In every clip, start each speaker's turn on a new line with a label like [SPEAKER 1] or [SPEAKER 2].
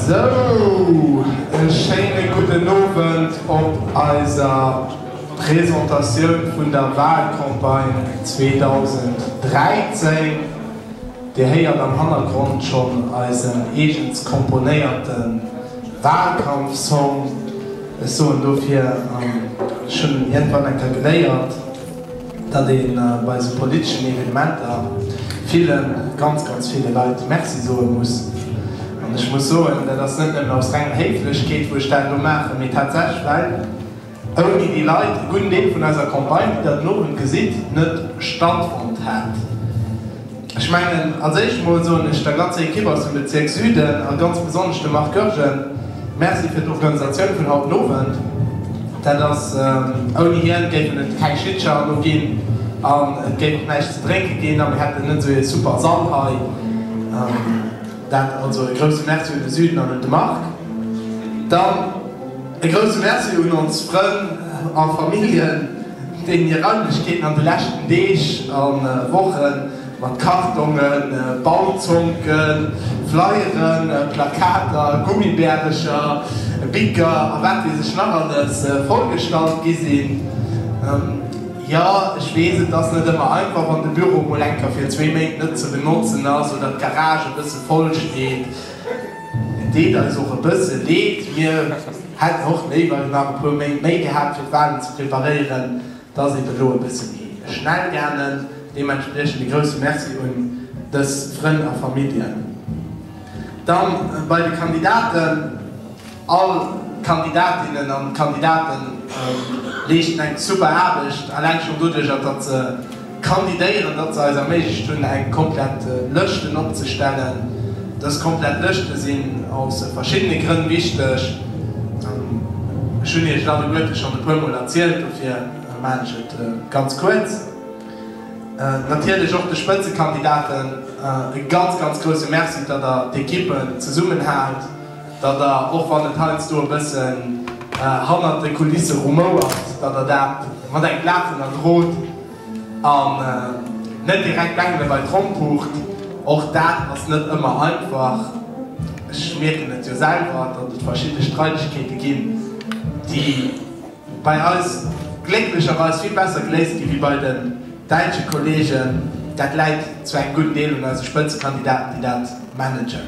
[SPEAKER 1] Sou, e schéine gudden Owend op eiser Presentatioun vun der Wahlcampagne 2013. Dir héiert am Hannergrond schonn eisen eegens komponéierten. Wahlkampfsong, ech soen dofir, an ech hunn iergendwann eng Kéier geléiert, datt ee bei esou politeschen Evenementer ville, ganz, ganz ville Leit Merci soe muss. An ech muss soen, dat ass net nëmmen aus renger Héiflechkeet, wou ech dat elo maachen, mee tatsächlech well, Ouni déi Leit hunn Deel vun eiser Campagne, wéi der den Owend gesitt, net stattfonnt. Hat ech mengen. Als éischt emol soen ech der ganzer Ekipp aus dem Bezierk Süden a ganz besonnesch dem Marc Goergen Merci fir d'Organisatioun vun haut den Owend. Dat ass, ouni hien géifen et keng Schlittcher elo ginn an et géif och näischt ze drénke ginn a mir hätten net esou ee super Sall hei. Dat also e grouse Merci un de Süden an un de Marc. Dann. E grousse Merci un ons Frënn a Familljen, deenen hir Raimlechkeeten an de leschten Deeg a Woche mat Kartongen, Baumzonken, Flyeren, Plakater, Gummibärecher, Bicker a wat weess ech nach alles vollgestallt gi sinn. Jo, ech weess, et ass net ëmmer einfach, wann de Büro mol enker fir zwee Méint net ze benotzen ass oder d'Garage e bësse voll steet. Et deet eis och e bësse Leed. Mir hätten och léiwer nach e puer Méint méi gehat, fir d'Walen ze preparéieren. Et ass eeben elo e bësse méi schnell gaangen. Deementspriechend e grousse Merci un dës Frënn a Familljen. Dann bei de Kandidaten, All d'Kandidatinnen an d'Kandidate leeschten eng super Aarbecht, alleng schonn doduercher, datt se Kandidéieren, datt se eis erméiglecht hunn eng komplett Lëschten opzestellen. Dës komplett Lëschte sinn aus verschiddene Grënn wichteg. Ech hunn Iech dat ueglech schonn e puermol erzielt, dofir maan ech et ganz kuerz. Natierlech och de Spëtzekandidaten e ganz, ganz grousse Merci, datt Der d'Ekippen zesummenhaalt. datt Der, och wann et heiansdo e bëssen hannert de Kulisse rumouert, datt Der dat mat engem Laachen erdrot an net direkt d'Bengele bei d'Tromm pucht. Och dat ass net ëmmer einfach. Ech mierken et jo selwer, datt et verschidde Streidegkeete ginn, déi bei eis glécklecherweis vill besser geléist ginn, wéi bei den däitsche Kolleegen. Dat läit zu engem gudden Deel un eise Spëtzekandidaten, déi dat managen.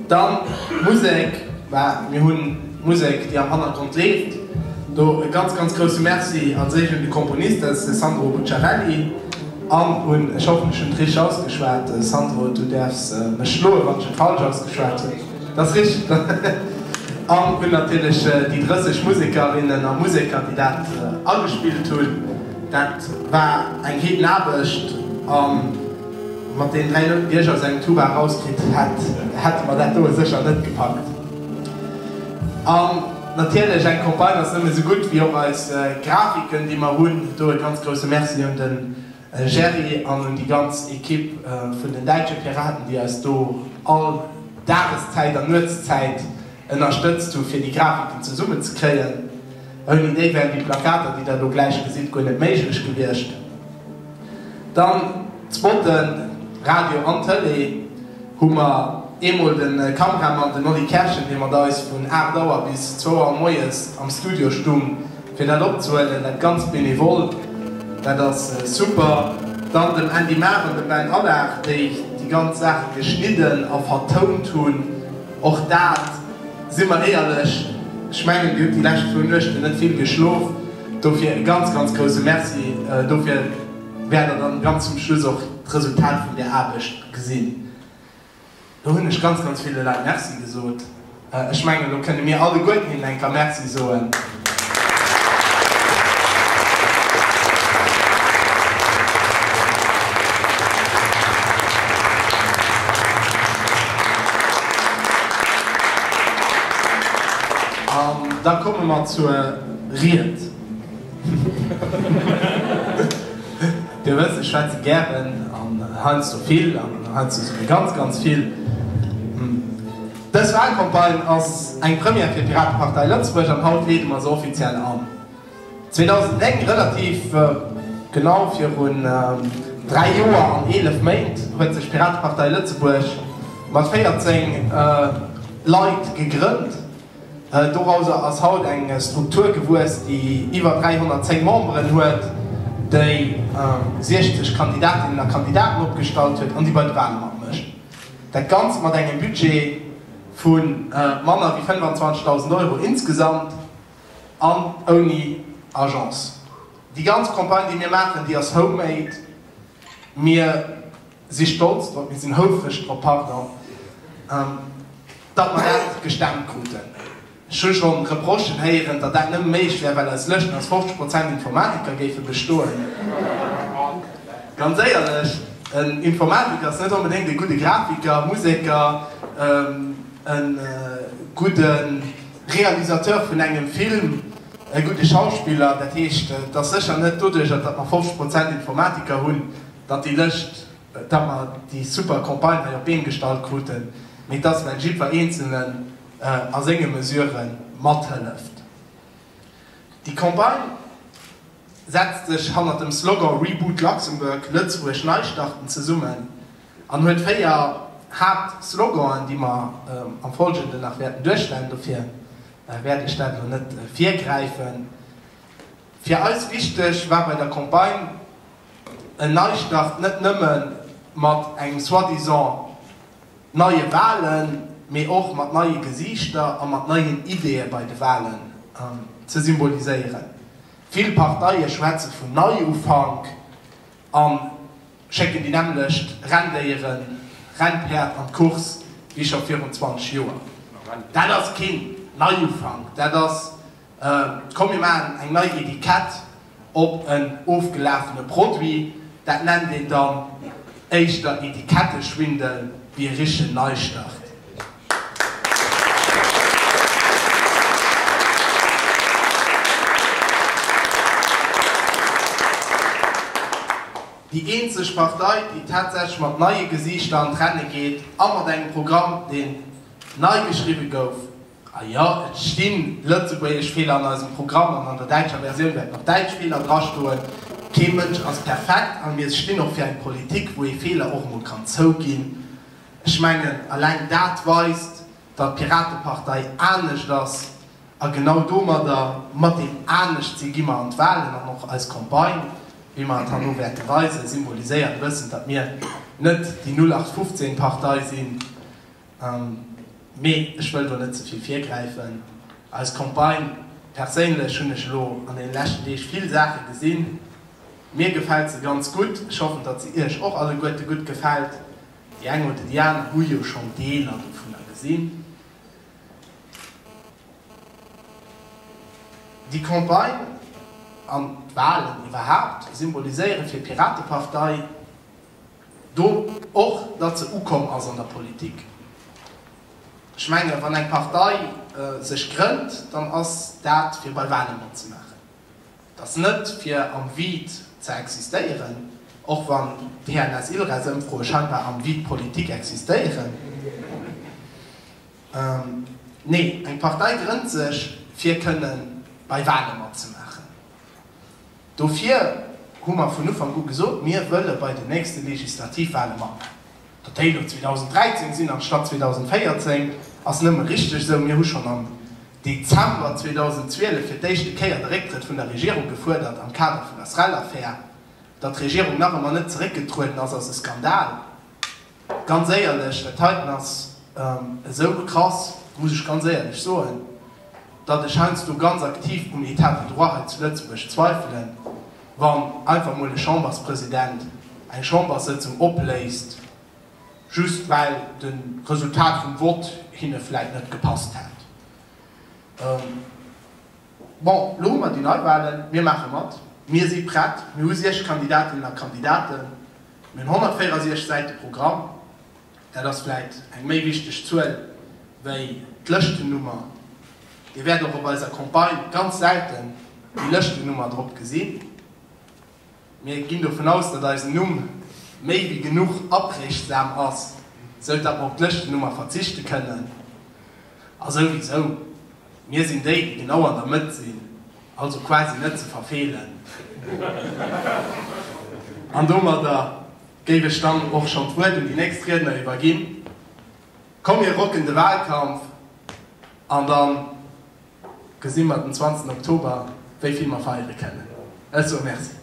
[SPEAKER 1] Dann d'Musek, well mir hunn d'Musek, déi am Hannergrond leeft. Do e ganz, ganz grousse Merci als éischt un de Komponist, dat ass de Sandro Bucciarelli, an un, ech hoffen, ech hunn et richteg ausgeschwat, Sandro, du däerfs mech schloen, wann ech et falsch ausgeschwat hunn, dat ass richteg, an un natierlech déi 30 Musekerinnen a Museker, déi dat agespillt hunn. Dat war eng Heedenaarbecht. Mat den 3 Loun, déi ech als eng Tuba erauskritt hätt, hätte mer dat doe sécher net gepackt. An natierlech, eng Campagne ass nëmme sou gutt wéi och eis Grafiken, déi mer hunn. Do e ganz grousse Merci un de Gerry an un déi ganz Ekipp vun den Däitsche Piraten, déi eis do all Dageszäit an Nuetszäit Ënnerstëtzt hu fir déi Grafiken zesummen ze kréien. Ouni déi wären déi Plakater déi der elo gläich gesitt guer net méiglech gewiescht. Dann d'Spotten, Radio an Tëlee hu mer eemol de Kameramann den Oli Kerschen dee mat eis vun 8 Auer bis 2 Auer moies am Studio stung fir dat opzehuelen, dat ganz benevol, dat ass super. Dann dem Andy Mahr an dem Ben Allard déi déi ganz Saach geschnidden a vertount hunn. Och dat, si mer éierlech, ech mengen, Dir hutt déi lescht zwou Nuechten net vill geschlof, dofir e ganz, ganz grousse Merci dofir. Wäert Der dann ganz zum Schluss och d'Resultat vun där Aarbecht gesinn. Elo hunn ech ganz, ganz ville Leit Merci gesot. Ech mengen, elo kënne mir alleguerten hinnen eng Kéier Merci soen. An da komme mer zur Ried. Dir wësst, ech schwätze gären an heiansdo vill an heiansdo souguer ganz, ganz vill. Dës Walcampagne ass eng Première fir d'Piratepartei Lëtzebuerg an haut leede mer se offiziell an. 2009, relativ genau virun dräi Joer an eelef Méint, huet sech d'Piratepartei Lëtzebuerg mat 14 Leit gegrënnt. Dorauser ass haut eng Struktur gewuess, déi iwwer 310 Memberen huet, déi 60 Kandidatinnen a Kandidaten opgestallt huet an déi bei de Wale matmécht. Dat Ganzt mat engem Budget vu manner wéi 25.000 Euro insgesamt an ouni Agence. Déi ganz Campagne, déi mir maachen, déi ass homemade. Mir si stolz drop, mir sinn houfreg drop, pardon, datt mer dat gestemmt kruten. Ech hu schonn d'Reprochen héieren, datt dat nëmme méiglech wär, well eis Lëschten aus 50 Prozent Informatiker géife bestoen. Ganz éierlech, en Informatiker ass net onbedéngt e gudde Grafiker, Museker, e gudde Realisateur vun engem Film, e gudde Schauspiller. Dat heescht, et ass sécher net doduerjer, datt mer 50 Prozent Informatiker hunn, datt déi Lëscht, datt mer déi super Campagne hei op d'Been gestallt kruten, mee et ass, well jiddwer Eenzelnen, a senge Mesurë mathëlleft. Déi Campagne setzt sech hannert dem Slogan Reboot Luxembourg, Lëtzebuerg nei starten zesummen an huet véier Haaptsloganen, déi mer am Folgenden nach wäerten duerchstellen. Dofir wäert ech dat elo net virgräifen. Fir eis wichteg war bei der Campagne en Neistart net nëmme mat engem soi-disant neie Wahlen, mee och mat neie Gesiichter a mat neien Ideeë bei de Wahlen ze symboliséieren. Vill Parteie schwätze vun Neiufank a schécken déi nämmlecht Renndéieren, Rennpäerd an d'Course wéi scho virun 20 Joer. Dat ass keen Neiufank, dat ass Komm mir maachen eng nei Etikett op en ofgelafene Produit. Dat nennt een dann éischter Etiketteschwindel wéi e richtegen Neistart. Déi eenzeg Partei, déi tatsächlech mat neie Gesiichter an d'Renne geet a mat engem Programm, deen nei geschriwwe gouf, A jo, et stinn lëtzebuergesch Feeler an eisem Programm an an der däitscher Versioun wäerten och däitsch Feeler drastoen. Kee Mënsch ass perfekt a mir stinn och fir eng Politik, wou ee Feeler och emol kann zouginn. Ech mengen, alleng dat weist, datt d'Piratepartei anescht ass a genau domadder, mat deem Aneschtsinn, gi mer an d'Wahlen an och eis Campagne, wéi mer et herno wäerte weisen, symboliséiert e bëssen, datt mir net déi Nullachtfofzéngpartei sinn, Mee ech wëll do net ze vill virgräifen. Eis Campagne perséinlech hunn ech elo an deenen leschten Deeg vill Saache gesinn. Mir gefält se ganz gutt. Ech hoffen, datt se iech och alleguerte gutt gefält. Déi eng oder déi aner hu jo schonn Deeler dovunner gesinn. Déi Campagne an d'Walen iwwerhaapt symboliséiere fir d'Piratepartei Do och, datt se ukomm ass an der Politik. Ech menge wann eng Partei sech grënnt, dann ass dat fir bei Wale matzemaachen. Et ass net fir am Vide ze existéieren, och wann d'TNS-Ilres-Ëmfroe scheinbar am Vide politique existéieren. Nee, eng Partei grënnt sech fir kënnen bei Wale matzemaachen. Dofir hu mer vun Ufank u gesot, mir wëlle bei den nächste Legislativwale matmaachen. Datt déi elo 2013 sinn anstatt 2014, ass nëmme richteg esou. Mir hu schonn am Dezember 2012 fir d'éischte Kéier de Récktrëtt vun der Regierung gefuerdert am Kader vun der SREL-Affär. Datt d'Regierung nach ëmmer net zeréckgetrueden ass, ass e Skandal. Ganz éierlech, et heiten ass esou krass, muss ech ganz éierlech soen, datt ech heiansdo ganz aktiv um État de droit hei zu Lëtzebuerg zweifelen, wann einfach mol e Chamberspresident eng Chamberssëtzung opléist, just well de Resultat vum Vott hinne vläit net gepasst hätt. Bon, elo hu mer déi Neiwahlen, mir maache mat, mir si prett, mir hu 6 Kandidatinnen a Kandidaten, Mir hunn 164 Säite Programm, dat ass vläit eng méi wichteg Zuel wéi d'Lëschtennummer. Dir wäert och op eiser Campagne ganz selten déi Lëschtennummer drop gesinn. Mir ginn dovun aus, datt eisen Numm méi wéi genuch aprägsam ass, sou datt mer op d'Lëschtennummer verzichte kënnen. A souwisou, mir sinn déi, déi genau an der Mëtt sinn. Also quasi net ze verfeelen. An domadder géif ech dann och schonn d'Wuert un déi nächst Riedner iwwerginn. Komm mir rocken de Wahlkampf an da gesi mer den 20 Oktober wéi vill mer feiere kennen. Ech soe Merci.